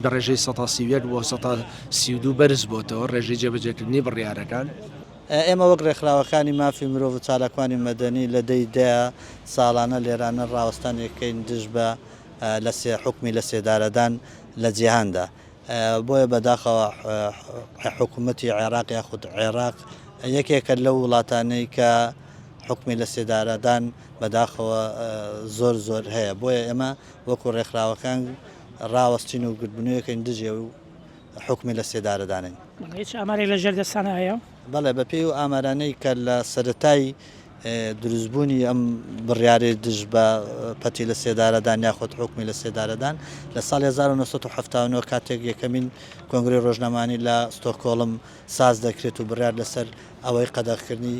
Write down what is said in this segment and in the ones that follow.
لە ڕێژەی سەتا سی و یەک بۆ سەتا سی و دوو بەرزبۆتەوە ڕێژەی جێبەجێکردنی بڕیارەکان. ئێمە وەک ڕێکخراوەکانی مافی مرۆڤ و چالاکوانی مەدەنی لە دەی دەیە ساڵانە لێرانە ڕاوەستانێک کەین دژ بە لە سێ حوکمی لە سێدارەدان لە جیهاندا بۆیە بەداخەوە حکومەتی عێراق یاخود عێراق یەکێکە لەو وڵاتانەی کە حکمی لە سێدارەدان بەداخەوە زۆر زۆر هەیە بۆیە ئێمە وەکو ڕێکخراوەکان ڕاوەستین و گردبنوێکەین دژی ئەو حوکمی لە سێدارە دانین. بەڵێ هیچ ئامارێک لە ژێر دەستتانە هەیە؟ بەڵێ بە پێی ئەو ئامارانەی کە لە سەرەتای دروست بوونی ئەم بڕیارەی دژ بە پەتی لە سێدارەدان یاخود حوکمی لە سێدارەدان لە ساڵی 1979 کاتێک یەکەمین کۆنگرەی ڕۆژنامانی لە ستۆکۆڵم ساز دەکرێت و بڕیار لەسەر ئەوەی قەدەغکردنی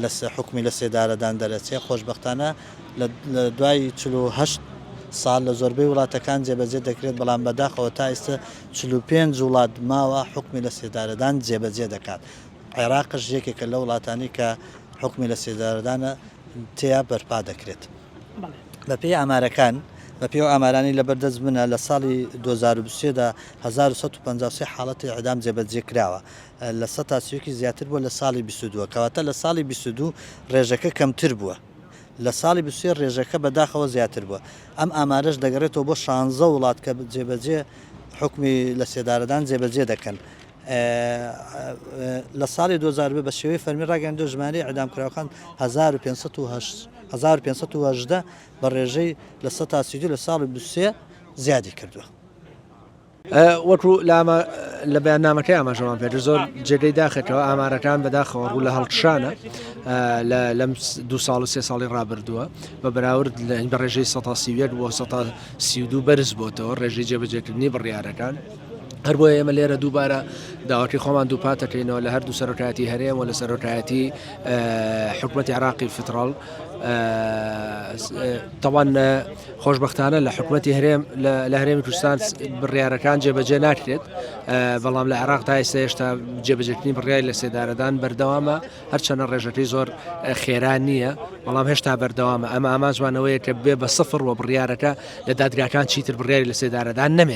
لە حوکمی لە سێدارەدان دەرەچێ، خۆشبەختانە لە دوای چل و هەشت ساڵ لە زۆربەی وڵاتەکان جێبەجێ دەکرێت، بەڵام بەداخەوە تا ئیستە چل و پێنج وڵات ماوە حوکمی لە سێدارەدان جێبەجێ دەکات، عێراقش یەکێکە لەو وڵاتانەی کە حوکمی لە سێدارەدان تێیا بەرپا دەکرێت. بەپێی ئامارەکان، بەپێی ئەو ئامارانەی لەبەر دەست منە لە ساڵی دوو هەزار و بیست و سێ دا هەزار و سەد و پەنجا و سێ حاڵەتی ئیعدام جێبەجێ کراوە، لە سەتا سی و یەکیش زیاتر بووە لە ساڵی بیست و دوو، کەواتە لە ساڵی بیست و دوو ڕێژەکە کەمتر بووە، لە ساڵی بیست و سێ ڕێژەکە بەداخەوە زیاتر بووە، ئەم ئامارەش دەگەڕێتەوە بۆ شانزە وڵات کە جێبەجێ حوکمی لەسێدارەدان جێبەجێ دەکەن. لە ساڵی دوو هەزار و بیست بە شێوەی فەرمی ڕاگەیاندووە ژمارەی ئیعدامکراوەکان هەزار و پێنج سەد و هەشت هەزار و پێنج سەد و هەژدە بە ڕێژەی لە سەتا سی و دوو لە ساڵی بیست و سێ زیادی کردووە. وەکو لە بەیاننامەکەی ئاماژەمان پێێت زۆر جێگەی داخێتەوە ئامارەکان بەداخەوە ڕوو لە هەڵکشانە لەم دو ساڵ و سێ ساڵی ڕابردووە بە بەراورد لە بە ڕێژەی 1970 بۆ 1970 بەرز بۆتەوە ڕێژەی جێبەجێکردنی بڕیارەکان. هەر بۆ ئێمە لێرە دووبارە داواکی خۆمان دووپاتەکەینەوە لە هەردوو سەرۆکایەتی هەرێم و لە سەرۆکایەتی حکوومەتی عراقی فتراڵ تەوان خۆشبەختانە لە حکومەتی هەرێم لە هەرێمی کوردستان بڕیارەکان جێبەجێ ناکرێت بەڵام لە عێراق تا ئێستا هێشتا جێبەجێکردنی بڕیاری لە سێدارەدان بەردەوامە هەرچەنە ڕێژەکەی زۆر خێرا نییە بەڵام هێشتا بەردەوامە ئەمە ئامانجوانەوەیە کە بێ بە سفر و بڕیارەکە لە دادگاکان چیتر بڕیاری لە سێدارەدان نەمێنێت